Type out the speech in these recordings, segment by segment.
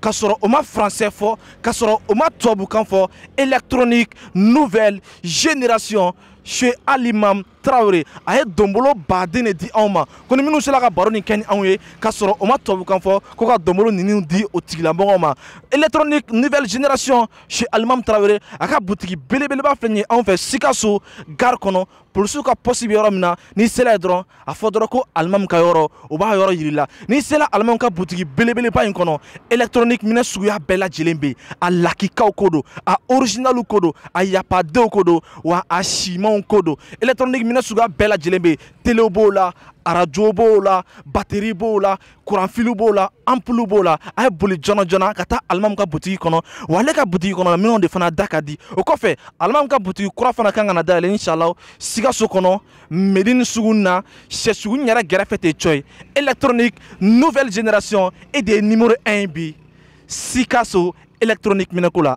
ka sɔrɔ o ma français fɔ ka sɔrɔ o ma tubabukan fɔ électronique nouvelle génération chez alimam tarawele a ye donbolo baden de di anw ma ko ni minnu sela ka baro nin kɛ ni anw ye ka sɔrɔ o ma tubabukan fɔ ko ka donbolo ninnu di o tigilamɔgɔw ma électronique nouvelle génération chez alimam tarawele a ka butigi belebeleba filɛ nin ye anw fɛ sikaso gare kɔnɔ polisiw ka pɔsi bɛ yɔrɔ min na n'i sela yen dɔrɔn a fɔ dɔrɔn ko alimamu ka yɔrɔ o b'a yɔrɔ yir'i la n'i sela alimamu ka butigi belebeleba in kɔnɔ électronique minɛn suguya bɛɛ lajɛlen bɛ yen a lakikaw ko don a orijinaliw ko don a y'a pas deux ko don wa a simanw ko don électronique minɛn suguya bɛɛ lajɛlen bɛ yen telew b'o la arajo b'o la bateri b'o la kuranfiliw b'o la anpulu b'o la a ye boli joona joona ka taa alimamu ka butigi kɔnɔ wa ale ka butigi kɔnɔ minɛnw de fana da ka di o kɔfɛ alimamu ka butigi kura fana kan ka na dayɛlɛ inshallah sikaso kɔnɔ medini suguni na shɛ suguni yɛrɛ gɛrɛfɛ ten cɔyi électronique nouvelle génération e de ye numéro 1 ye bi sikaso électronique minɛnko la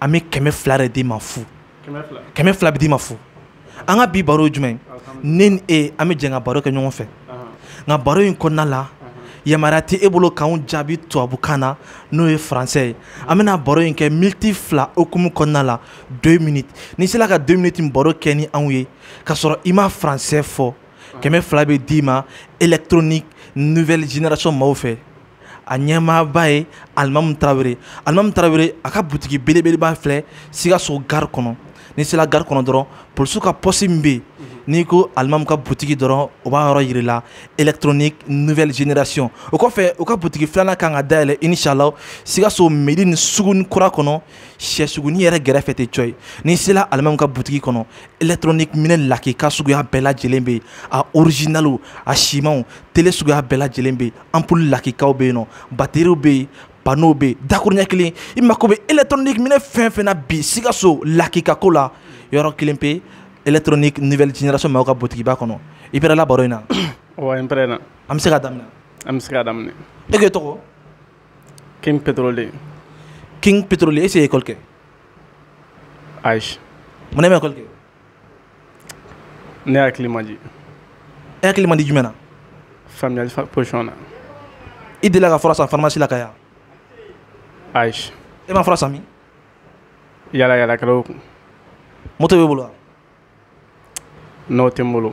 an bɛ kɛmɛ fila de d'i ma fu kɛmɛ fila bɛ d'i ma fu an ka bi baro ye jumɛn ne ni e an bɛ jɛ ka baro kɛ ɲɔgɔn fɛ nka baro in kɔnɔna la yamaruya tɛ e bolo k'anw jaabi tubabukan na n'o ye faransɛ ye an bɛna baro in kɛ militi fila hukumu kɔnɔna la deux minutes n'i sela ka deux minutes baro kɛ ni anw ye k'a sɔrɔ i ma faransɛ fɔ kɛmɛ fila bɛ d'i ma électronique nouvelle génération maaw fɛ a ɲɛmaaba ye alimamu tarawele alimamu tarawele a ka butigi belebeleba filɛ sikaso gari kɔnɔ n'i sela gari kɔnɔ dɔrɔn polisiw ka pɔsi min bɛ yen n'i ko alimamu ka butigi dɔrɔn o b'a yɔrɔ yir'i la électronique nouvelle génération o kɔfɛ u ka butigi filanan kan ka dayɛlɛ inshallah sikaso medini suguni kura kɔnɔ shɛ suguni yɛrɛ gɛrɛfɛ ten cɔyi n'i sela alimamu ka butigi kɔnɔ électronique minɛn lakika suguya bɛɛ lajɛlen bɛ yen a originaliw a simanw tele suguya bɛɛ lajɛlen bɛ yen anpulu lakikaw bɛ yen nɔ bateriw bɛ yen panow bɛ yen dakuruɲɛ kelen i mako bɛ électronique minɛn fɛn fɛn na bi sikaso lakika ko la yɔrɔ kelen pe électronique nouvelle génération maaw ka butigiba kɔnɔ i pɛrɛla baro in na wa n pɛrɛna an bɛ se ka daminɛ an bɛ se ka daminɛ e k'e tɔgɔ king pétrolier king pétrolier est-ce e ye école kɛ ayi mun na e ma école kɛ ne hakili man di e hakili man di jumɛn na faamuyali position na i delila ka fura san farimasi la ka ye ayi e ma fura san min yaalayaalakɛlaw kun moto b'e bolo wa non o tɛ n bolo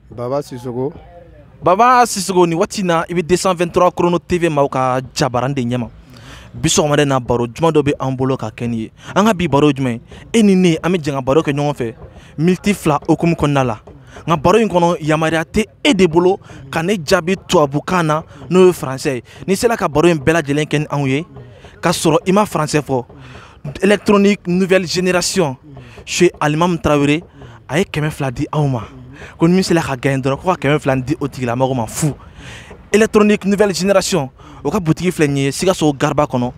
baba sisoko baba sisoko nin waati in na i bɛ 223 chrono tv maaw ka jabaran de ɲɛma bi sɔgɔmada na baro juman dɔ bɛ an bolo ka kɛ n'i ye an ka bi baro jumɛn e ni ne an bɛ jɛn ka baro kɛ ɲɔgɔn fɛ militi fila hukumu kɔnɔna la nka baro in kɔnɔ yamaruya tɛ e de bolo ka ne jaabi tubabukan na n'o ye faransɛ ye n'i sela ka baro in bɛɛ lajɛlen kɛ ni anw ye k'a sɔrɔ i ma faransɛ fɔ électronique nouvelle génération chez Alimam Traoré a ye kɛmɛ fila di anw ma ko ni min sela ka gagner dɔrɔn ko ka kɛmɛ fila di o tigilamɔgɔ ma fu électronique nouvelle génération o ka butigi filɛ nin ye Sikaso gariba kɔnɔ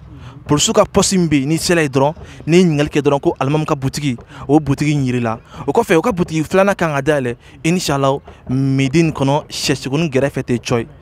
polisiw ka pɔsi min bɛ yen n'i sela yen dɔrɔn n'i ye ɲininkali kɛ dɔrɔn ko alimamu ka butigi o butigi in yir'i la o kɔfɛ o ka butigi filanan kan ka dayɛlɛ inchallah Medini kɔnɔ sɛsugunin gɛrɛfɛ ten cɔyi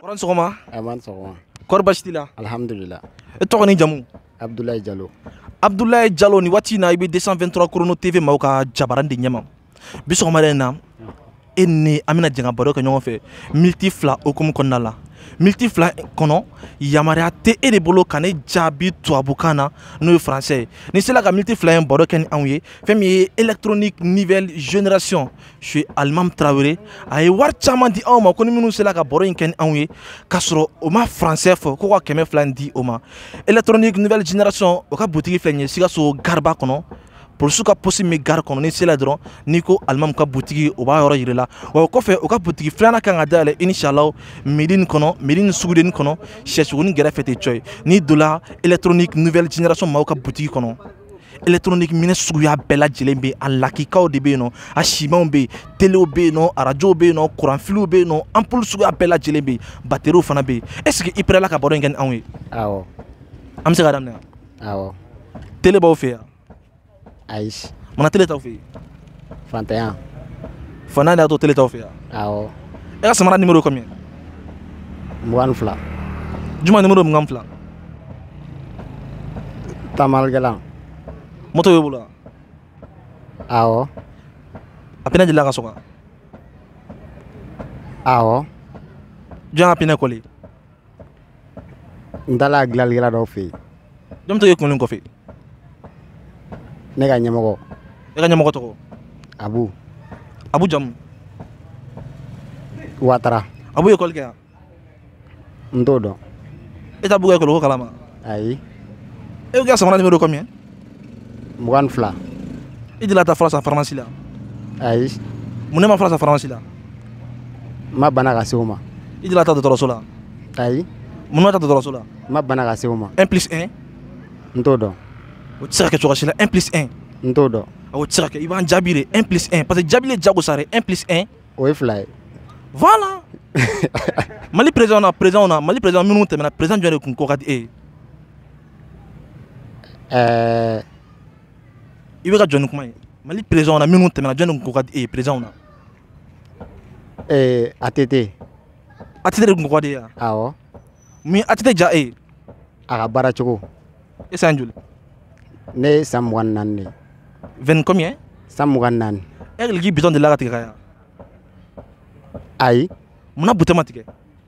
Kɔrɔ sɔgɔma sɔgɔma kɔrɔ basi t'i la alihamudulila e tɔgɔ ni jamu abudulayi jalo abudulayi jalo nin waati in na i bɛ 223 chrono tv maaw ka jabaran de ɲɛma bi sɔgɔmada in na e ni an bɛna jɛn ka baro kɛ ɲɔgɔn fɛ militi fila hukumu kɔnɔna la militi fila kɔnɔ yamaruya tɛ e de bolo ka ne jaabi tubabukan na n'o ye faransɛ ye n'i sela ka militi fila in baro kɛ ni anw ye fɛn min ye électronique nouvelle génération chez alimamu tarawele a ye wari caman di anw ma ko ni minnu sera ka baro in kɛ ni anw ye k'a sɔrɔ o ma faransɛ fɔ ko ka kɛmɛ fila in di o ma électronique nouvelle génération o ka butigi filɛ nin ye sikaso gariba kɔnɔ polisiw ka pɔsi min gari kɔnɔ n'i sela dɔrɔn n'i ko alimamu ka butigi o b'a yɔrɔ yir'i la wa o kɔfɛ o ka butigi filanan kan ka dayɛlɛ inchallah Medini kɔnɔ Medini sugudennin kɔnɔ sɛsugunin gɛrɛfɛ ten cɔyi n'i donna électronique nouvelle génération maaw ka butigi kɔnɔ électronique minɛn suguya bɛɛ lajɛlen bɛ yen a lakikaw de bɛ yen nɔ a simanw bɛ yen telew bɛ yen nɔ arajow bɛ yen nɔ kuranfiliw bɛ yen nɔ anpulu suguya bɛɛ lajɛlen bɛ yen bateriw fana bɛ yen est ce que i pɛrɛla ka baro in kɛ ni anw ye awɔ an bɛ se ka daminɛ awɔ tele b'aw fɛ yan ayi mun na tele t'aw fɛ yen faantanya fana de y'a to tele t'aw fɛ yan awɔ e ka samara nimero ye combien mugan ni fila jumɛn nimero ye mugan ni fila taamalikɛlan moto b'e bolo wa awɔ a pinɛ delila ka sɔgɔ wa awɔ jɔn k'a pinɛ kɔli n taala dilanlikɛla dɔw fɛ yen jɔn bɛ to k'e kunnin kɔfɛ ne ka ɲɛmɔgɔ e ka ɲɛmɔgɔ tɔgɔ abu abu jamu watara abu ye ekɔli kɛ yan n t'o dɔn e t'abu ka ekɔliko kalama ayi e ko e ka samara nimero combien mugan fila i delila ka taa fura san faramasi la ayi munna e ma fura san faramasi la n ma bana ka se o ma i delila ka taa dɔgɔtɔrɔso la ayi mun ma taa dɔgɔtɔrɔso la n ma bana ka se o ma un plus un n t'o dɔn o tɛ se ka kɛ cogoya si la un plus un n t'o dɔn o tɛ se ka kɛ i b'an jaabi de un plus un parce que jaabili ye jagosa de un plus un o ye fila ye voilà mali président na président na mali président minnu tɛmɛna président jɔn de kun ko ka di e ye ɛɛ i bɛ ka jɔn ni kuma ye mali présidentw na minnu tɛmɛna jɔn de kun ko ka di e ye présidentw na ee att att de kun ko ka di e ye wa awɔ mun att diya e ye a ka baara cogo e san joli ne ye san mugan ni naani de ye vingt combien san mugan ni naani e hakili k'i bitɔn delila ka tigɛ ka ye wa ayi munna butɔn ma tigɛ